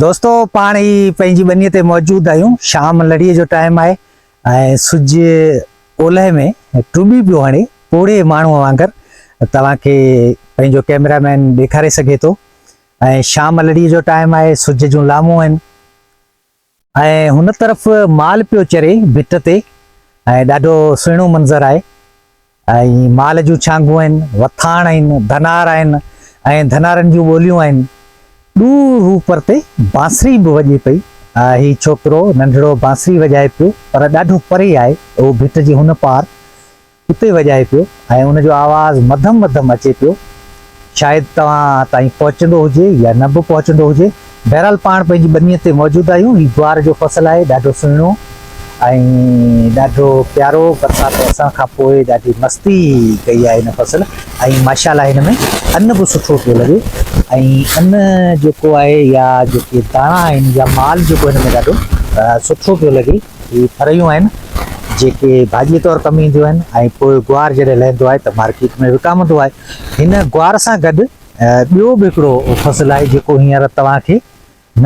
دوستو پاڻ هي پنهنجي ٻنيء تي موجود آهيون شام لڙيء جو ٽائيم آهي ۽ سج اولهه ۾ ٽٻي پيو هڻي پوڙهي ماڻهو وانگر توهان کي پنهنجو ڪيمرا مين ڏيکاري سگهي ٿو ۽ شام لڙيء جو ٽائيم آهي سج جون لامون آهن ۽ هن طرف مال پيو چري ڀت تي ۽ ڏاڍو سهڻو منظر آهي ۽ مال جون ڇانگون آهن، وٿاڻ آهن، ڌنار آهن ۽ ڌنارن جون ٻوليون آهن. ڏو روء پرتي بانسري به وڄي پئي. هي ڇوڪرو ننڍڙو بانسري وڄائي پيو، پر ڏاڍو پري آهي، اهو ڀت جي هن پار، اتي وڄائي پيو ۽ ان جو آواز مڌم مڌم اچي پيو. شايد توهان تائين پهچندو هجي يا نه به پهچندو هجي. بهرحال پاڻ پنهنجي ٻنيء تي موجود آهيون. هي جوار جو فصل آهي، ڏاڍو سهڻو ۽ ڏاڍو پيارو. برسات وسڻ کان پوء ڏاڍي مستي ڪئي آهي هن فصل ۽ ماشاءالله هن ۾ ان به سٺو پيو لڳي ۽ ان جيڪو آهي يا جيڪي داڻا آهن يا مال جيڪو هن ۾ ڏاڍو سٺو پيو لڳي. هي ڦرهيون آهن جيڪي ڀاڄيء طور ڪم اينديون آهن ۽ پوء جوار جڏهن لهندو آهي ته مارڪيٽ ۾ وڪامندو آهي. هن گوار سان گڏ ٻيو به هڪڙو فصل آهي جيڪو هينئر توهان کي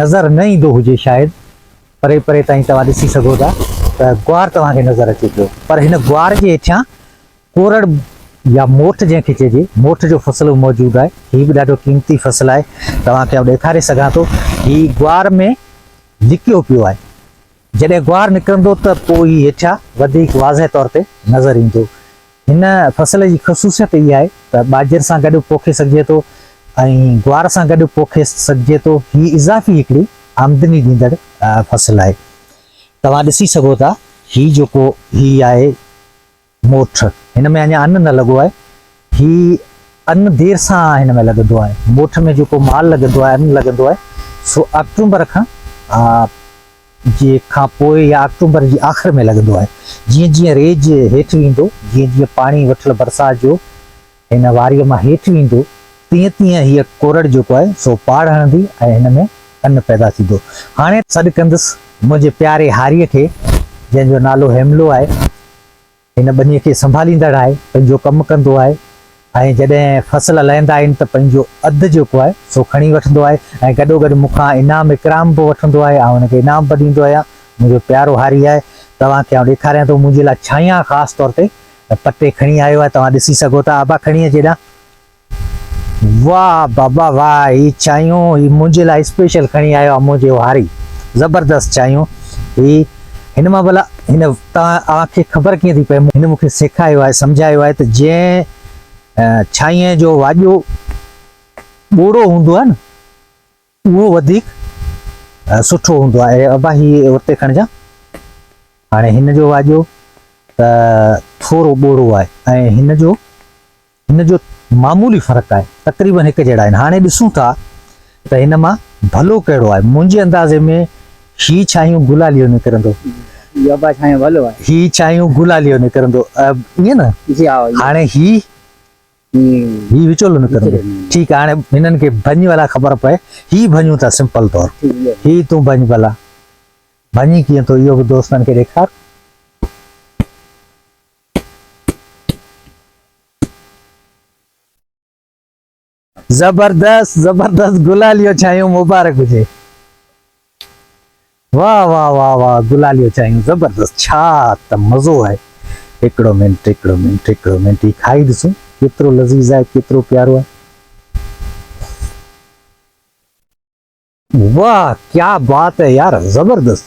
نظر نه ايندو هجي شايد پري پري تائين توهان ڏسي سگهو ٿا ته گوار توهان کي نظر اچي پيو پر هن گوار جي هيٺيان ڪورڙ يا موٺ جنهن کي چئجي موٺ جو فصل به موجود آهي هي به ڏاڍو قيمتي فصل آهي توهان کي آئون ڏيکاري سگهان ٿو هي گوار ۾ لڪيو پيو آهي جڏهن گوار نڪرندو ته پوء هي هيٺيان وڌيڪ واضح طور تي نظر ايندو. هن فصل جي خصوصيت اها آهي ته ٻاجهر سان گڏ به پوکي سگهجي ٿو ۽ گوار سان گڏ به پوکي سگهجي ٿو. هي اضافي هڪڙي آمدني ڏيندڙ فصل آهي. توهان ڏسي سگهو ٿا هي جيڪو هي آهي موٺ، هن ۾ اڃا ان نه لڳو آهي. هي ان دير سان هن ۾ لڳندو آهي. موٺ ۾ جيڪو مال لڳندو آهي، ان لڳندو آهي، سو آڪٽومبر کان جي کان پوء يا آڪٽومبر جي آخر ۾ لڳندو آهي. جيئن جيئن ريج هيٺ ويندو، جيئن جيئن پاڻي وٺل برسات جو هن واريء مان هيٺ ويندو، تيئن تيئن هيء ڪورڙ جيڪو آهي، سو پاڙ هڻندي ۽ هن ۾ ان پيدا ٿيندو. هاڻي سڏ ڪندس منهنجي پياري هاريء کي، جنهن جو نالو هيملو آهي. هن ٻنيء کي سنڀاليندڙ آهي، پنهنجو ڪم ڪندو آهي ۽ جڏهن فصل لهندا آهن ته پنهنجو اڌ جيڪو آهي، سو کڻي وٺندو آهي ۽ گڏوگڏ مون کان انعام اڪرام به وٺندو آهي. آئون هن کي انعام به ڏيندو آهيان. منهنجو پيارو هاري آهي. توهان کي آئون ڏيکاريان ٿو، منهنجي لاء ڇانيان خاص طور تي ته پٽي کڻي آيو آهي توهان ڏسي سگهو ٿا ابا کڻي اچ هيڏانهن. واه بابا واه هي چانهيون هي منهنجي لاء اسپيشل کڻي آيو آهي منهنجي هاري زبردست چانهيون هي هن مان ڀلا هن توهان کي خبر ڪيئن ٿي پئي هن مونکي سيکايو آهي سمجهايو آهي ته جنهن چانهيء جو واڄو ٻوڙو هوندو آهي نه اهو وڌيڪ سٺو هوندو آهي. اڙي ابا هي اتي کڻجان. هاڻي هن جو واڄو ته ٿورو ٻوڙو آهي ۽ هن جو هن جو معمولي فرق آهي. تقريبن هڪ جهڙا آهن. هاڻي ڏسون ٿا ته هن مان ڀلو ڪهڙو آهي. منهنجي اندازي ۾ هي ڇانهيون گلاليو نڪرندو. هي ابا ڇانهيون ڀلو آهي. هي ڇانهيون گلاليو نڪرندو. ائين نه؟ جي ها. هاڻي هي هي وچولو نه ڪرندو. ٺيڪ آ هاڻي هنن کي ڀڃ ڀلا خبر پئي هي ڀڃون ٿا سمپل طور هي تون ڀڃ ڀلا ڀڃي ڪيئن ٿو اهو به دوستن کي ڏيکار. زبردست زبردست گلاليو ڇانيو مبارڪ هجي. واه واه واه واه گلاليو چايون زبردست ڇا ته مزو آهي هڪڙو منٽ هڪڙو منٽ هڪڙو منٽ هي کائي ڏسون ڪيترو لذيذ آهي ڪيترو پيارو آهي واه ڪيا بات آهي يار زبردست.